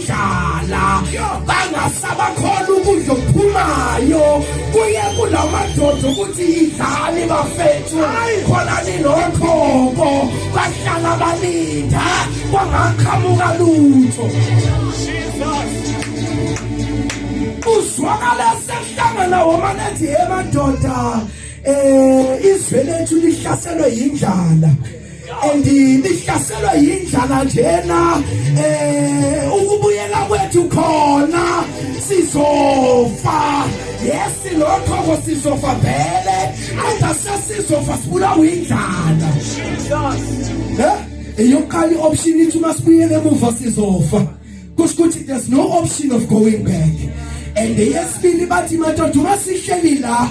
dlala bangasabakhola ukudla okuphumayo kuye kula madoda ukuthi yidlani bafethu khona ninokhoko bahlala balinda kwangaqhamuka lutho uzwakala sehlangana womane ethi ye madoda um izwe lethu lihlaselwe yindlala and nihlaselwe yindlala njena eh ukubuyela kwethu khona sizofa yes lokho kosizofa vele angasasizofa sibulawa indlala Jesus eh eyokuqala ioption ithi uma sibuyele emuva sizofa kusho ukuthi there's no option of going back and yesibili bathi madoda uma sihleli la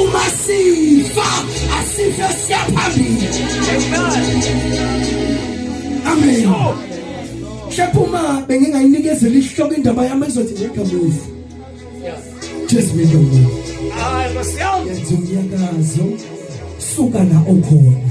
uma sifa asife siyaphambili amen mhlawumbe uma bengingayinikezela isihloko indaba yami ezothi ngegamuva jesu mendomuntu yenza umnyakazo suka la okhona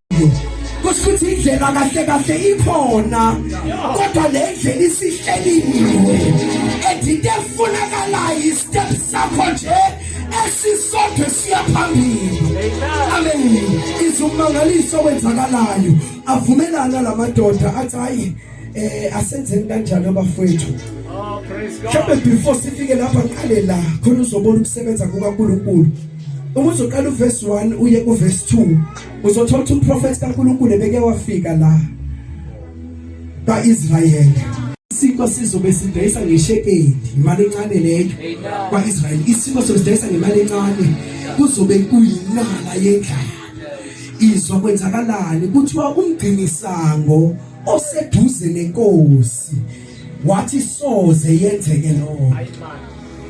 kusho ukuthi indlela kahle kahle ikhona kodwa le ndlela isihleliwe and into efunakalayo istep sakho nje esisodwa siyaphambili amen izumangaliso wenzakalayo avumelana lamadoda athi hayi eh asenzeni kanjani abafowethu oh, mhlawumbe before sifike lapha ngiqale la khona uzobona ukusebenza kukaNkulunkulu uma uzoqala uverse 1 uye kuverse 2 uzothola ukuthi umprofethi kaNkulunkulu ebeke wafika la kaIsrayeli isiko sizobe sidayisa ngeshekeli imali encane leyo kwaIsrayeli isiko sobe sidayisa ngemali encane kuzobe kuyinala yendlala izwa kwenzakalani kuthiwa umgcinisango oseduze nenkosi wathi soze yenzeke lokho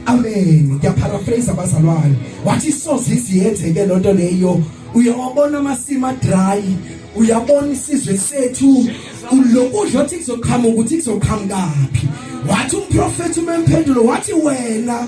amen ngiyaparaphrase abazalwane wathi soze iziyenzeke lonto leyo uyawabona amasima dry uyabona isizwe sethu lokudla othi kuzoqhamuka ukuthi kuzoqhamukaphi wathi umprofethi umempendulo wathi wena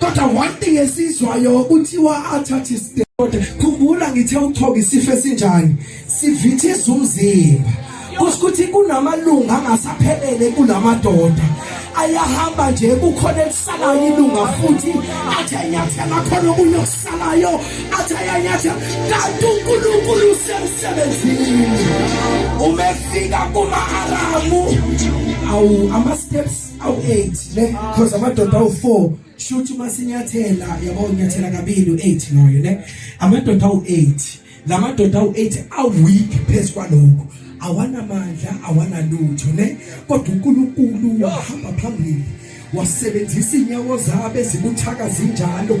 kodwa one thing esizwayo kuthiwa athathe isite kodwa khumbula ngithe uthoka isifo esinjani sivithiza umzimba kusho ukuthi kunamalunga angasaphelele kulamadoda ayahamba nje kukhona elisalayo ilunga futhi athi anyathela khona okunye okusalayo athi ayanyathela kanti unkulunkulu usemsebenzini umefika kuma-aramu awu ama-steps awu-8 ne because amadoda awu-4 shuthi uma sinyathela yabo unyathela kabili u-8 loyo ne amadoda awu-8 la madoda awu-8 aweak phezu kwalokho awanamandla awanalutho ne kodwa unkulunkulu wahamba phambili wasebenzisa inyawo zabe zibuthaka zinjalo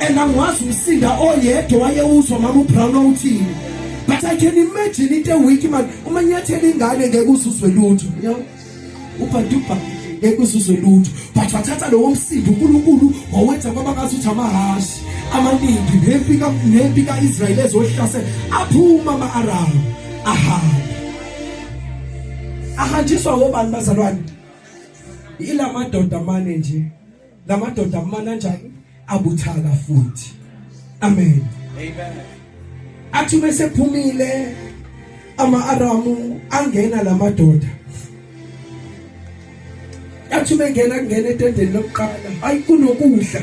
and angiwazi umsinda oyedwa wayewuzwa mama uBrown owuthini but i can imagine into week man uma nyathela ingane ngeke uzuzwe lutho yabo ubhantuba ngeke uzuzwe lutho but wathatha lowo msindo uNkulunkulu wawenza kwaba ngathi uthi amahashi amaningi nempi ka nempi kaIsrael ezohlase aphuma ama-Arab ahamba ahanjiswa ngobani bazalwane ilamadoda mane nje lamadoda kumananjani abuthaka futhi amen amen athi bese phumile ama aramu angena lamadoda athi bengena kungena etendeni lokuqala ayi kunokudla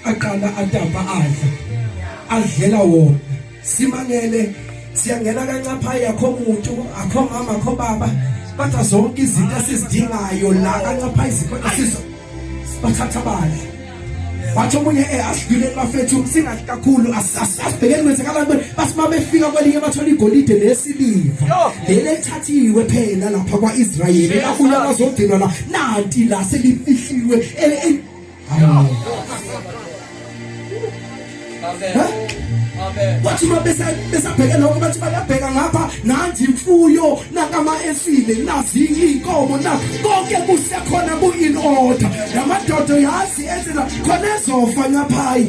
aqala atapa adla adlela wona simangele siyangena kancaphaya akho muntu akho mama akho baba batha zonke izinto esizidingayo la kancaphaya izinto esizo bathatha bani wathi omunye eh, asidluleni bafethu singathi kakhulu asibhekeni kwenzekala ntoni bathi uma befika kwelinye bathola igolide nesiliva leli elithathiwe phela lapha kwa-israyeli lakuya bazodinwa la nanti la selifihliwe wathi uma besabheke lokho bathi bayabheka ngapha nanzi imfuyo nakama efile nazi iy'nkomo na konke kusekhona ku-in order namadodo yazi enzela khona ezofa ngaphayi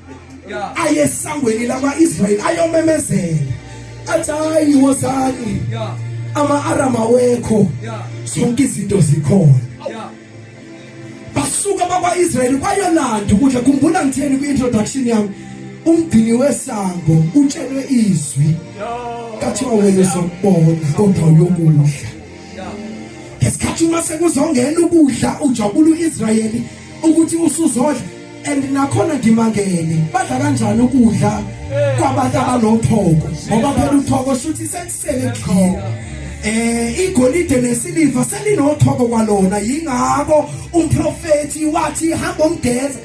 aye esangweni lakwa-israyeli ayomemezela athi hayi wozani ama-aram awekho zonke izinto zikhona basuka bakwa-israyeli kwayolanda ukudla khumbula ngitheni kwi-introduction yami umgcini wesango utshelwe izwi kathiwa wena uzokubona kodwa uyokudla ngesikhathi uma sekuzongena ukudla ujabula u-israyeli ukuthi usuzodla and nakhona ngimangele badla kanjani ukudla kwabantu abanothoko ngoba phela uthoko shuthi sekusele khona eh igolide nesiliva selinothoko kwalona yingakho umprofeti wathi hamba umgeza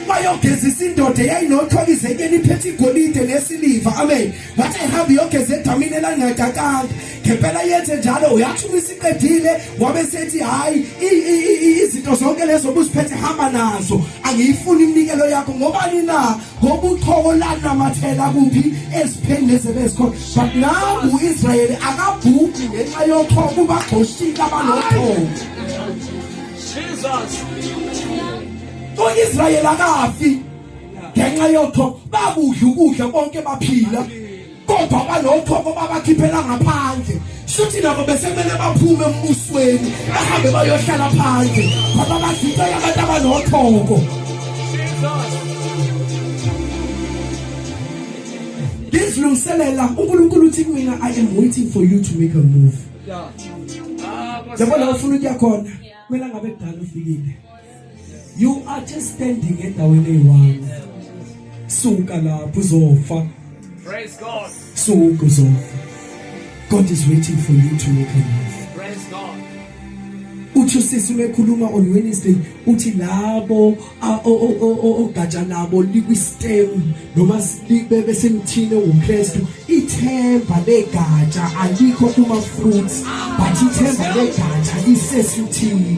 bayogezisa indoda eyayinothwaka izenyeni iphethe igolide nesiliva amen wathi ehambe iyogeza edamini elangaqaqanga ngempela yenze njalo uyathi uma isiqedile wabe sethi hhayi izinto zonke lezo obuziphethe hamba nazo angiyifuni iminikelo yakho ngobani na ngoba uqhoko lanamathela kuphi ezipheni lezi ebezikhona but nangu u-israyeli akabhudi ngenxa yoqhoko kubagxoshile abanoqhoko u-israyeli akafi ngenxa yoqhoko bakudla ukudla bonke baphila kodwa banokhokho babakhiphela ngaphandle shuthi nabo besemele baphume embusweni bahambe bayohlala phandle ngoba bazibe abantu abanokhokho ngizilungiselela unkulunkulu uthi kumina i am waiting for you to make a move yabona ufuna ukuya khona kumele ngabe kudala ufikile you are just standing endaweni eyi-one suka lapho uzofa Praise God. suka uzofa god is waiting for you to make a move Praise God. uthi usisi umekhuluma on wednesday uthi labo a- o- o- o- o- ogatsha labo likwistem noma s- li- be- besemthini ongumkristu ithemba legatsha alikho kuma-fruits but ithemba legatsha lisesuthini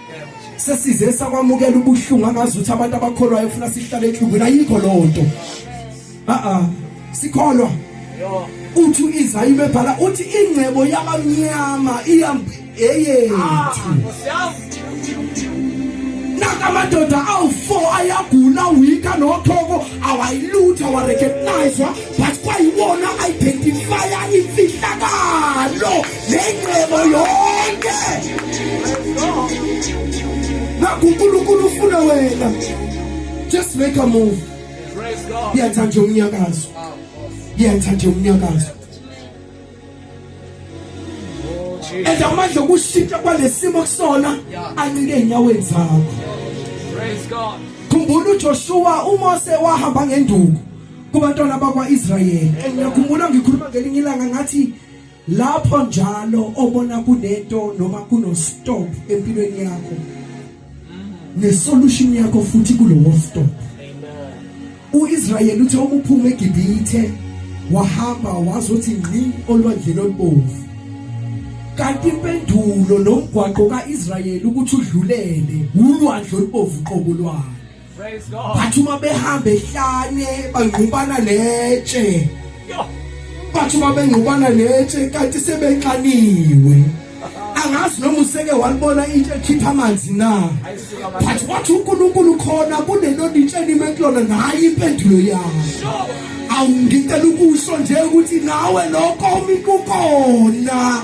sesize sakwamukela ubuhlungu angazi ukuthi abantu abakholwayo ufuna sihlale enhlungwini ayikho leyo nto a-a sikholwa uthi u-izayi bebhala uthi ingcebo yabamnyama eyethu naka amadoda awu-four ayagula wika nothoko awayilutha warecognizwa but kwayiwona ayidentifaya imfihlakalo nengcebo yonke naku unkulunkulu ufuna wena just make a move yenza nje umnyakazo yenza nje umnyakazo and amandla okushintsha kwalesimo kusona ancike enyaweni zakho praise god khumbula uJoshua uMose wahamba ngenduku kubantwana bakwaIsrayeli ngiyakhumbula ngikhuluma ngelinye ilanga ngathi lapho njalo obona kunento noma kuno stop empilweni yakho ne solution yakho futhi kulowo stop uIsrael uthe ukuphuma eGibhithe wahamba wazothi ngqi olwandleni olubomvu kanti impendulo nomgwaqo kaIsrael ukuthi udlulele ulwandle olubomvu qobo lwalo Praise God. Bathi uma behamba ehlane bangqubana netshe. Bathi uma bengqubana netshe kanti sebenxaniwe. angazi noma useke walibona into ekhipha amanzi na but wathi uNkulunkulu khona kunelona into enime kulona nayi impendulo yakho awungicela ukusho nje ukuthi nawe lokho umikukhona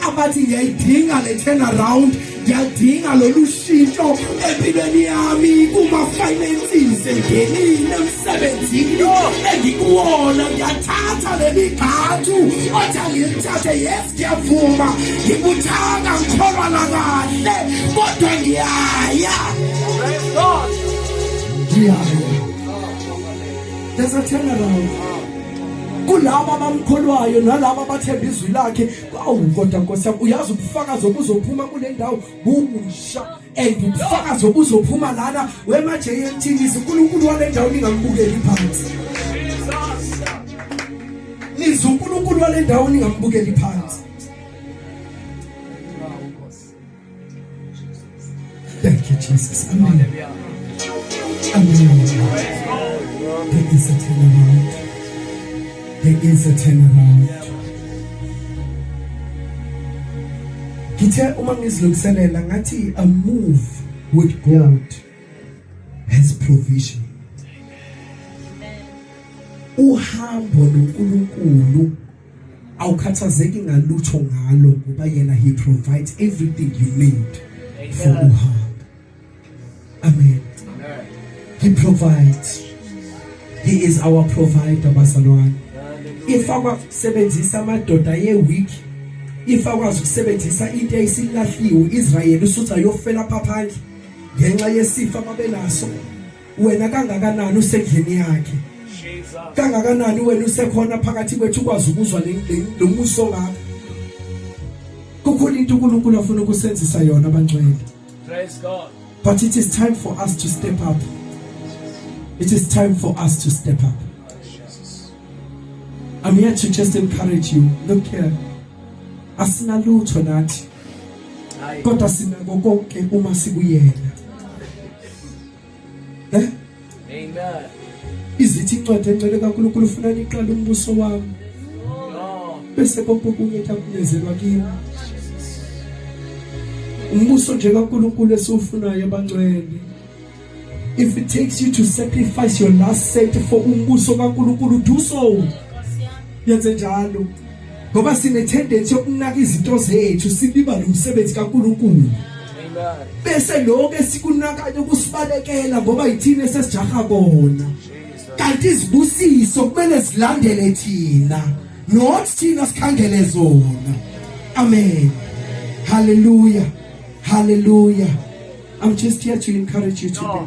abathi ngiyayidinga le turnaround ngiyadinga lolu shintsho empilweni yami kuma-finances engenile emsebenzini engikuwona ngiyathatha leli ghathu othi angilithathe yes ngiyavuma ngibuthaka ngikholwa lakahle kodwa ngiyaya ngiyaya there's a turnaround kulabo abamkholwayo nalabo abathemba izwi lakhe awu kodwa nkosi yami uyazi ubufakazi obuzophuma kule ndawo bubusha and ubufakazi obuzophuma lana wemaje yemthilisi unkulunkulu wale ndawo ningambukeli phansi nize unkulunkulu wale ndawo ningambukeli phansi Thank you, Jesus. Amen. Amen. There is a turnaround. There is a turnaround. Ngithe uma ngizilungiselela ngathi a move with God has provision. Uhambo noNkulunkulu awukhathazeki ngalutho ngalo ngoba yena he provides everything you need for uhamba amen he provides he is our provider basalwane if akwasebenzisa amadoda ye week if akwazi ukusebenzisa into eyisilahliwe Israel usutha yofela phaphandle ngenxa yesifa babenaso wena kangakanani usendlini yakhe kangakanani wena usekhona phakathi kwethu ukwazi ukuzwa lo muso ngakho kukhona into uNkulunkulu afuna ukusenzisa yona abangcwele praise god but it is time for us to step up it is time for us to step up i'm here to just encourage you look here asinalutho nathi kodwa sinako konke uma sikuyena eh amen izithi incwadi encele kaNkulunkulu ufuna niqale umbuso wami bese konke okunye kuyakunezelwa kimi umbuso nje kaNkulunkulu esiwufunayo abangcwele if it takes you to sacrifice your last cent for umbuso kaNkulunkulu do so yenze njalo ngoba sinethendensi yokunaka izinto zethu silibale umsebenzi kaNkulunkulu bese lokho esikunakayo kusibalekela ngoba yithina sesijaha bona kanti izibusiso kumele zilandele thina not thina sikhandele zona amen hallelujah hallelujah i'm just here to encourage you today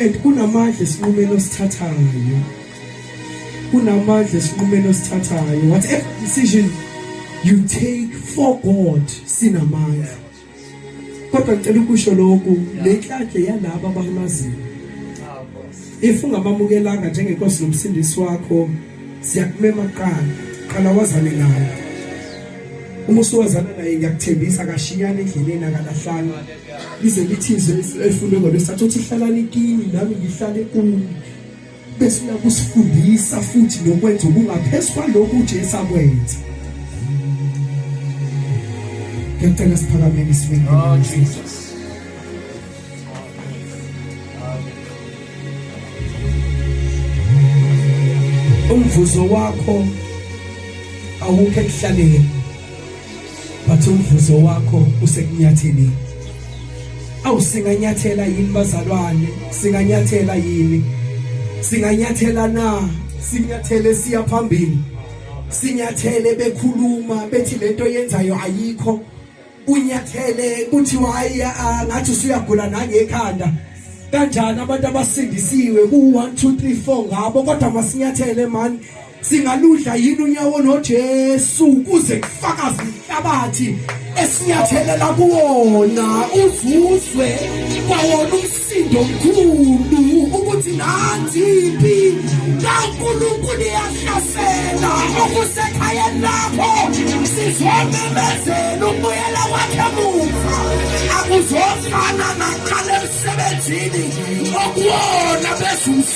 and kunamandla esinqumeni osithathayo kunamandla esinqumeni osithathayo whatever decision you take for God sinamandla kodwa ngicela ukusho lokhu le nhlanhla yalabo abamaziyo if ungamamukelanga njengenkosi nomsindisi wakho siyakumema kuqala qala wazane naye uma usuwazana naye ngiyakuthembisa akashiyana endleleni akalahlanga lize lithize efune ngalo sathothi hlalani kini nami ngihlale kuni bese uyakusifundisa futhi nokwenza ubungaphezu kwalokhu uJesu akwenza ngiyacela siphakameni isibindi oh Jesus umvuzo wakho awukho ekuhlaleni but umvuzo wakho usekunyatheni awu singanyathela yini bazalwane singanyathela yini singanyathela na sinyathele siya phambili sinyathele bekhuluma bethi lento yenzayo ayikho unyathele kuthiwa hayi ngathi usuyagula nangekhanda kanjani abantu abasindisiwe ku 1 2 3 4 ngabo kodwa masinyathele mani singaludla yini unyawo noJesu ukuze kufakaze inhlabathi esinyathelela kuwona uzuzwe kwawona umsindo omkhulu ukuthi nanziphi kaNkulunkulu iyahlasela okusekhayeni lakho sizomemezela ukubuyela kwakhe muva akuzofana naqala emsebenzini okuwona bezulu